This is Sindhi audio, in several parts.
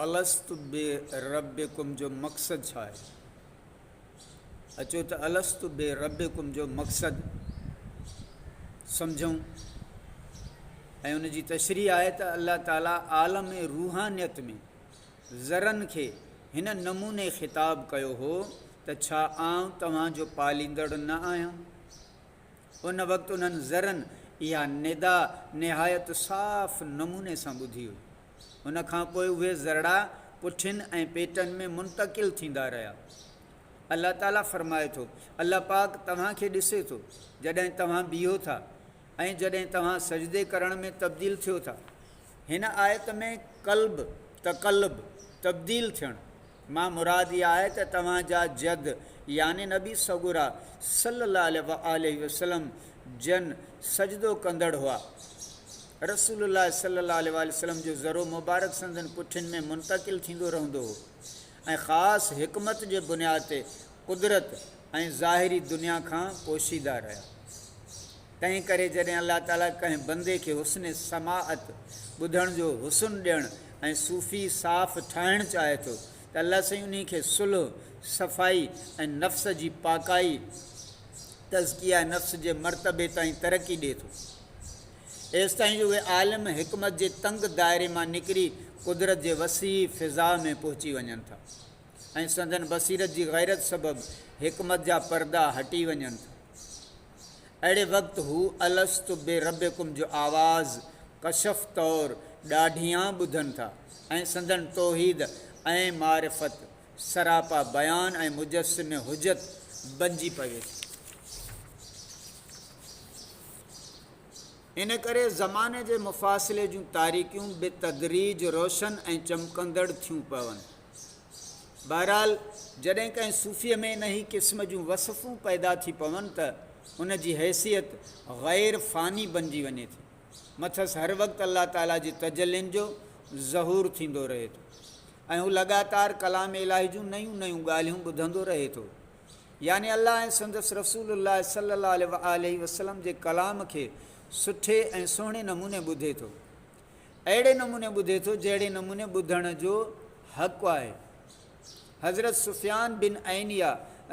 الست بربڪم جو مقصد ڇا آهي؟ اچو ته الست بربڪم جو مقصد سمجهون ۽ ان جي تشريح آهي ته الله تعالي عالم روحانيت ۾ ذرن کي هن نموني خطاب ڪيو هو ته ڇا آئون توهان جو پاليندڙ نه آهيان؟ ان وقت انهن ذرن اها ندا نهايت صاف نموني سان ٻڌي هئي. ان کان پوء اهي ذرڙا پٺين ۽ پيٽن ۾ منتقل ٿيندا رهيا. الله تعاليٰ فرمائي ٿو، الله پاڪ توهان کي ڏسي ٿو جڏهن توهان بيهو ٿا ۽ جڏهن توهان سجدي ڪرڻ ۾ تبديل ٿيو ٿا. هن آيت ۾ قلب، تقلب، تبديل ٿيڻ، مان مراد اها آهي ته توهان جا جد يعني نبي سڳورا صلّي الله عليه واٰله وسلّم جن سجدو ڪندڙ هئا. رسول الله صلّي الله عليه واٰله وسلّم جو ذرو مبارڪ سندن پٺين ۾ منتقل ٿيندو رهندو هو ۽ خاص حڪمت جي بنياد تي قدرت ۽ ظاهري دنيا کان پوشيده رهيا. تنهن ڪري جڏهن الله تعاليٰ ڪنهن بندي کي حسن سماعت، ٻڌڻ جو حسن ڏيڻ ۽ صوفي صاف ٺاهڻ چاهي ٿو ته الله سائين انهي کي صلح، صفائي ۽ نفس جي پاڪائي، تزڪيه نفس، جي مرتبي تائين ترقي ڏئي ٿو. ايستائين جو اهي عالم حڪمت جي تنگ دائري مان نڪري قدرت جي وسيع فضاء ۾ پهچي وڃن ٿا ۽ سندن بصيرت جي غيرت سبب حڪمت جا پردا هٽي وڃن ٿا. اهڙي وقت هو الست بربڪم جو آواز ڪشف طور ڏاڍيان ٻڌن ٿا ۽ سندن توحيد ۽ معرفت سراپا بيان ۽ مجسم حجت بنجي پوي ٿي. ان ڪري زماني جي مفاصلي جون تاريڪيون بتدريج روشن ۽ چمڪندڙ ٿيون پون. بهرحال جڏهن ڪنهن صوفيء ۾ انهيء قسم جون وصفون پيدا ٿي پون ته ان جي حيثيت غير فاني بنجي وڃي ٿي. مٿس هر وقت الله تعاليٰ جي تجلين جو ظهور ٿيندو رهي ٿو ۽ هو لڳاتار ڪلام الاهي جون نيون نيون ڳالهيون ٻڌندو رهي ٿو. يعني الله ۽ سندس رسول الله صلي الله عليه وآله وسلم جي ڪلام کي سٺي ۽ سهڻي نموني ٻڌي ٿو. اهڙي نموني ٻڌي ٿو جهڙي نموني ٻڌڻ جو حق آهي. حضرت سفيان بن عينيه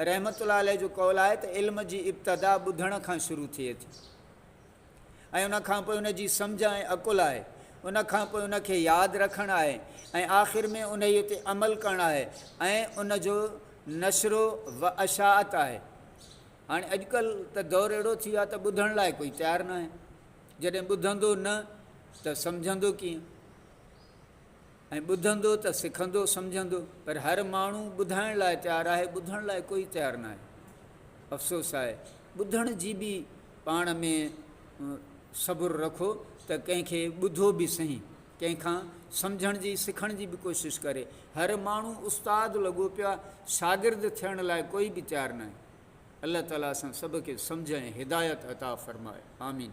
رحمة الله عليه جو قول آهي ته علم جي ابتدا ٻڌڻ کان شروع ٿئي ٿي ۽ ان کانپوء ان جي سمجهه ۽ عقل آهي، ان کانپوء ان کي ياد رکڻ آهي ۽ آخر ۾ انهيء تي عمل ڪرڻ آهي ۽ ان جو نشرو و اشاعت آهي. هاڻي اڄڪلهه ته دور اهڙو ٿي ويو آهي ته ٻڌڻ لاء ڪوئي تيار ناهي. جڏهن ٻڌندو نه ته سمجهندو ڪيئن؟ ۽ ٻڌندو ته سکندو سمجهندو؟ پر هر ماڻهو ٻڌائڻ لاء تيار آهي، ٻڌڻ لاء ڪوئي تيار نه آهي. افسوس آهي. ٻڌڻ جي به پاڻ ۾ صبر رکو ته ڪنهن کي ٻڌو به سهي، ڪنهن کان سمجهڻ جي، سکڻ جي به ڪوشش ڪري. هر ماڻهو استاد لڳو پيو آهي، شاگرد ٿيڻ لاء ڪوئي به تيار نه آهي. الله تعاليٰ اسان سڀ کي سمجهه ۽ هدايت عطا فرمائي. آمين.